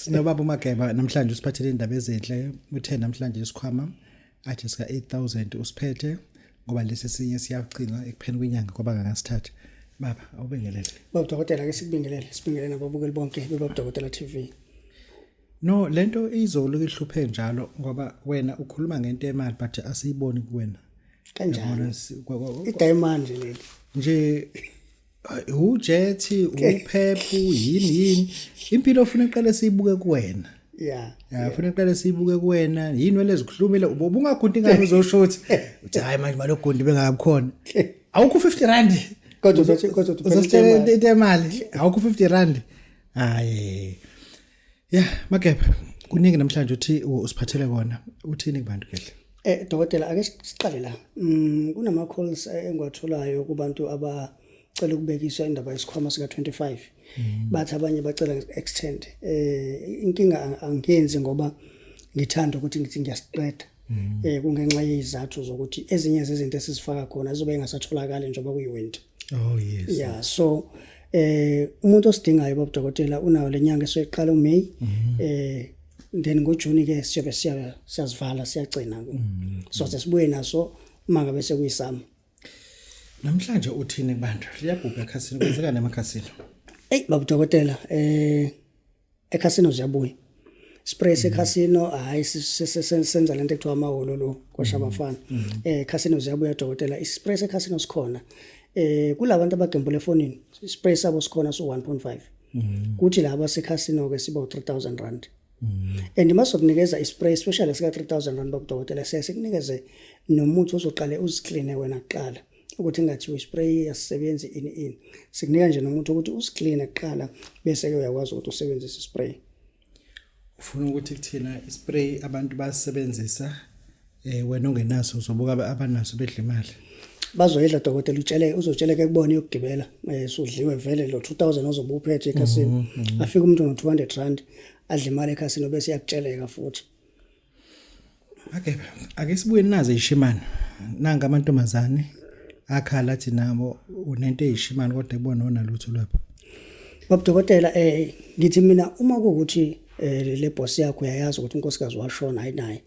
sinobaba uMageba namhlanje usiphathele indaba ezinhle uthe namhlanje isikhwama athi sika 8000 usiphethe ngoba lesi sinye siyagcina ekupheni kwenyanga kwaba kangasithatha baba awubingelele baba dokotela ke sikubingelele sibingelele nababukeli bonke bebaba dokotela TV No lento izolo ihluphe njalo ngoba wena ukhuluma ngento emali but asiyiboni kuwena. Kanjalo. Idiamond leli. Nje ujethi uphephu yini yini impilo ofuna iqale siyibuke kuwena. Yeah. Yeah, ufuna iqale siyibuke kuwena yini wena ezikhulumile ubungagundi ngani uzosho ukuthi uthi hayi manje malogundi bengakukhona. Awukho 50 rand. Kodwa uzothi kodwa uzothi imali. Awukho 50 rand. Hayi. ya magebhe kuningi namhlanje uthi usiphathele kona uthini kubantu kehle Eh dokotela ake siqale la. Mm kunama calls eh, engiwatholayo kubantu abacela ukubekiswa indaba yesikhwama sika 25. Mm. Bathi abanye bacela extend. Eh inkinga angiyenzi ngoba ngithanda ukuthi ngithi ngiyasiqeda. Mm. Eh kungenxa yezizathu zokuthi ezinye zezinto esizifaka khona zizobe engasatholakali njengoba kuyiwinter. oh yes yeah so eh umuntu osidingayo babudokotela unayo lenyanga esoyiqala uMay mhm. eh then ngoJune ke siyobe siya siyazivala siyagcina mhm. so sesibuye naso manga bese kuyisama namhlanje uthini kubantu liyabhubha ekhasini kwenzeka nemakhasini hey babudokotela eh ekhasino ziyabuya spray sekhasino mm. hayi senza lento ekuthiwa amaholo lo kwasha mm. abafana mm. eh khasino ziyabuya dokotela ispray sekhasino sikhona eh kulabantu abagembula efonini spray sabo sikhona so 1.5 kuthi laba sekhasino ke sibo 3000 rand and masokunikeza ispray especially sika 3000 rand bokudokotela sesikunikeze nomuthi ozoqale uzicleane wena kuqala ukuthi ngathiwa ispray yasisebenzi ini ini sikunika nje nomuntu ukuthi usikline kuqala bese ke uyakwazi ukuthi usebenzise ispray ufuna ukuthi kuthina ispray abantu basebenzisa eh wena ongenaso uzobuka abanaso bedla imali bazoyidla dokotela utshele uzotsheleke kubona yokugibela eh, sudliwe vele lo 2000 ozobe uphethe ekhasini mhm, mhm. afike umuntu no 200 rand adle imali ekhasini obese yakutsheleka futhi Okay, ake sibuye naze ishimani. Nanga amantombazane akhala athi nabo unento eyishimani kodwa kubona wona lutho lapho. Baba dokotela eh ngithi mina uma kukuthi eh le boss yakho uyayazi ukuthi unkosikazi washona ayinaye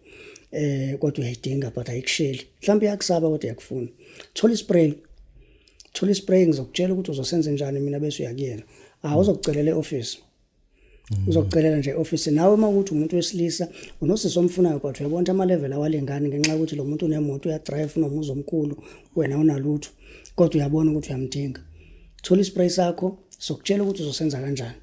eh kodwa uyayidinga but ayikusheli mhlawumbe iyakusaba kodwa yakufuna thola ispray thola ispray ngizokutshela ukuthi uzosenze njani mina bese uyakuyena awuzokucelela eoffice Mm. uzokucelela nje office nawe uma ukuthi umuntu wesilisa unosisi omfunayo but uyabona ama level awalengani ngenxa yokuthi lo muntu unemoto uya drive unomuzi omkhulu wena unalutho kodwa uyabona ukuthi uyamdinga thola ispray sakho sokutshela ukuthi uzosenza kanjani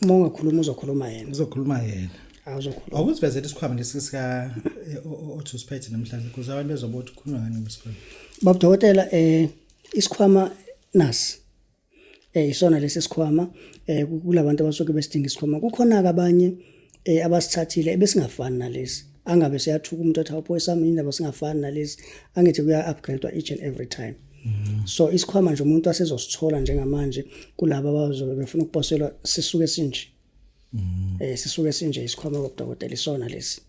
uma ungakhuluma uzokhuluma yena uzokhuluma yena awuzokhuluma awuzivezela isikhwama lesi sika eh, othusiphethe namhlanje kuze abantu bezoba ukuthi khuluma ngani ngesikhwama babudokotela eh isikhwama nasi eh isona lesi sikhwama eh kulabantu abasuke besidinga isikhwama kukhona abanye eh abasithathile ebesingafani nalesi angabe siyathuka umuntu athi awupho esami indaba singafani nalesi angithi kuya upgrade each and every time Mm-hmm. so isikhwama nje umuntu asezosithola njengamanje kulabo abazobe befuna ukuposelwa sisuke sinje mm-hmm. eh sisuke sinje isikhwama kodokotela isona lesi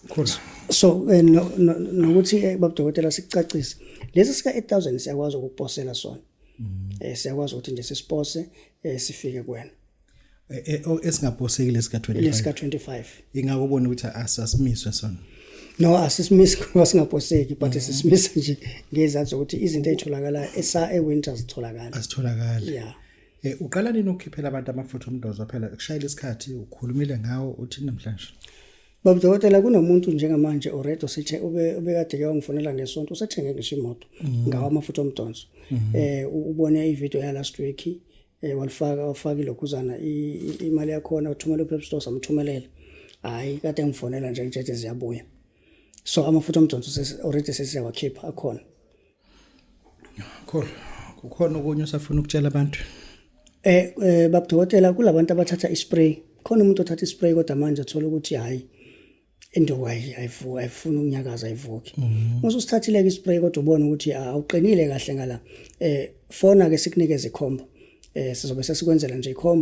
Khona. So eh, no- no- nokuthi eh, babudokotela sicacise. Lesi sika 8000 siyakwazi ukukuposela sona. Eh siyakwazi ukuthi nje sisipose eh, sifike kuwena. Eh, eh, oh, esingaposekile sika Lesi ka 25 25. ingakubona ukuthi asasimiswe sona No asisimisi ngoba singaposeki but sisimisa nje ngezathu ukuthi izinto ezitholakala esa e winter zitholakala. asitholakali Yeah. Eh uqala nini ukukhiphela abantu amafutha omdozo phela ukushayela isikhathi ukhulumile ngawo uthi namhlanje. Baba dokotela kunomuntu njengamanje already sithe ube ubekade ke wangifonela ngesonto usethenge ngisho imoto mhm. ngawa amafutha omdonso. Mhm. Eh ubone ivideo ya last week eh walifaka wafaka ilokhuzana imali yakho na uthumela uPep Store samthumelela. Hayi kade ngifonela nje ngithe ziyabuya. So amafutha omdonso already sesiyawakhipha akhona. Kholo, kukhona okunye osafuna ukutshela abantu. Eh, eh babudokotela kulabantu abathatha ispray. Khona umuntu othatha ispray kodwa manje athola ukuthi hayi indoku ayivuki ayifuni ukunyakaza ayivuki mhm. uma usithathile ke ispray kodwa ubona ukuthi ah, awuqinile kahle ngala eh fona ke sikunikeze ikhombo eh sizobe sesikwenzela nje ikhombo